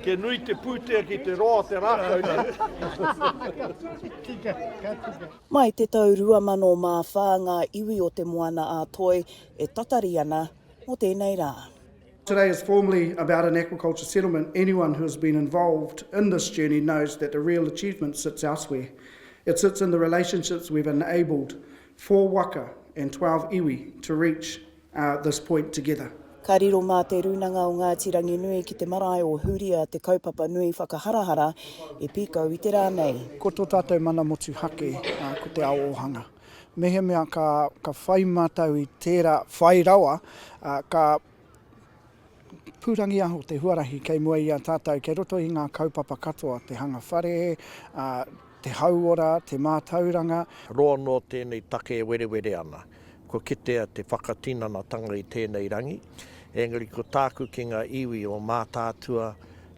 Kia nui te pūtea ki te roa o te rākau nei. Mai te tau 2004 ngā iwi o Te Moana-a-Toi e tatari ana mō tēnei rā. Today is formally about an aquaculture settlement, anyone who has been involved in this journey knows that the real achievement sits elsewhere. It sits in the relationships we've enabled four waka and 12 iwi to reach this point together. Ka riro mā Te Rūnanga o Ngāti Ranginui ki te marae o Huria te kaupapa nui whakaharahara e pīkau i te rā nei. Ko tō tātou mana motuhake ko te ao ōhanga. Mehemea ka whai mātou i tērā whai rawa, ka. Pūrangiaho te huarahi kei mua i a tātou kei roto i ngā kaupapa katoa, te hanga whare, te hauora, te mātauranga. Roa noa tēnei take e werewere ana, kua kitea te whakatinanatanga i tēnei rangi, engari ko tāku ki ngā iwi o Mātaatua,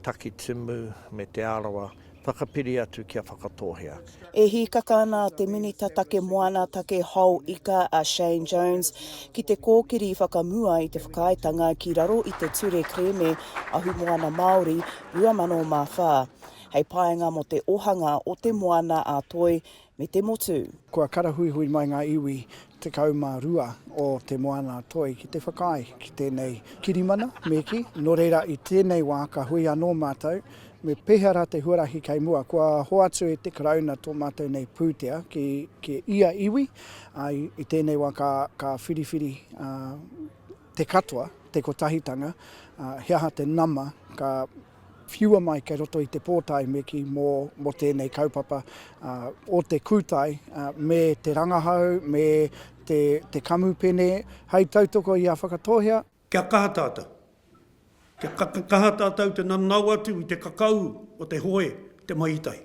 Takitimu me Te Arawa, Whakapiri atu kia whakatōhea. E hīkaka ana a te Minita Take Moana, Take Hou Ika a Shane Jones ki te kōkiri whakamua i te whakaaetanga ki raro i te Ture Kerēme Ahumoana Māori 2004 hei painga mō te ohanga o te moana ā-toi me te motu. Kua karahuihui mai ngā iwi 12 o Te Moana-a-Toi ki te whakaae ki tēnei kirimana, me kī, nō reira i tēnei wā ka hui anō mātou me pēhea rā te huarahi kei mua. Kua hoatu e te Karauna tō mātou nei pūtea ki ia iwi, ā, i tēnei wā ka whiriwhiri te katoa, te kotahitanga, he aha te nama ka whiua mai kei roto i te pōtae me kī mō mō tēnei kaupapa o te kūtai me te rangahau, me te te kamupene hei tautoko i a Whakatōhea. Kia kaha tātou. Kia kaha tātou te nanao atu i te kakau o te hoe, te maitai.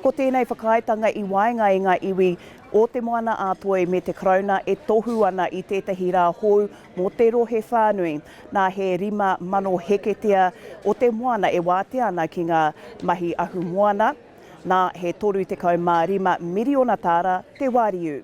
Ko tēnei whakaaetanga i waenga i ngā iwi o Te Moana-a-Toi me te Karauna e tohu ana i tētahi rā hou mō te rohe whānui. Nā he 5,000 heketea o te moana e wātea ana ki ngā mahi ahumoana, nā he 35 miriona tāra te wāriu.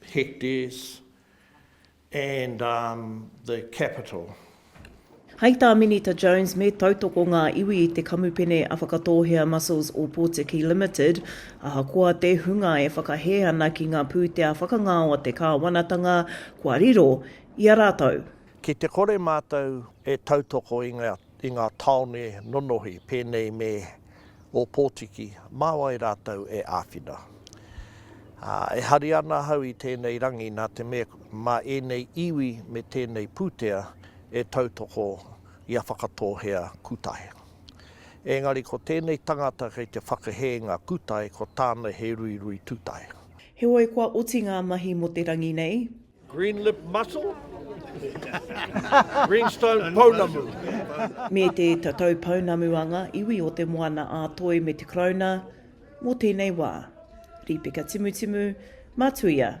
hectares and um the capital. Hai tā Minita Jones me tautoko ngā iwi i te kamupene a Whakatōhea Mussels o Pōtiki Limited, ahakoa te hunga e whakahē ana ki ngā pūtea whakangao a te kāwanatanga, kua riro i a rātou. Ki te kore mātou e tautoko i ngā i ngā tāone nonohi pēnei me Ōpōtiki, mā wai rātou e āwhina? Ā, e hari ana ahau i tēnei rangi nā te mea mā ēnei iwi me tēnei pūtea e tautoko i a Whakatōhea Kutae. Ēngari ko tēnei tangata kei te whakahē ngā kutae ko tāna he ruirui tūtae. Heoi kua oti ngā mahi mō te rangi nei. Green lip mussel, greenstone pounamu. Me te tatau pounamu a ngā iwi o Te Moana-a-Toi me Te Karauna mō tēnei wā. Rīpeka Timutimu, Matuia.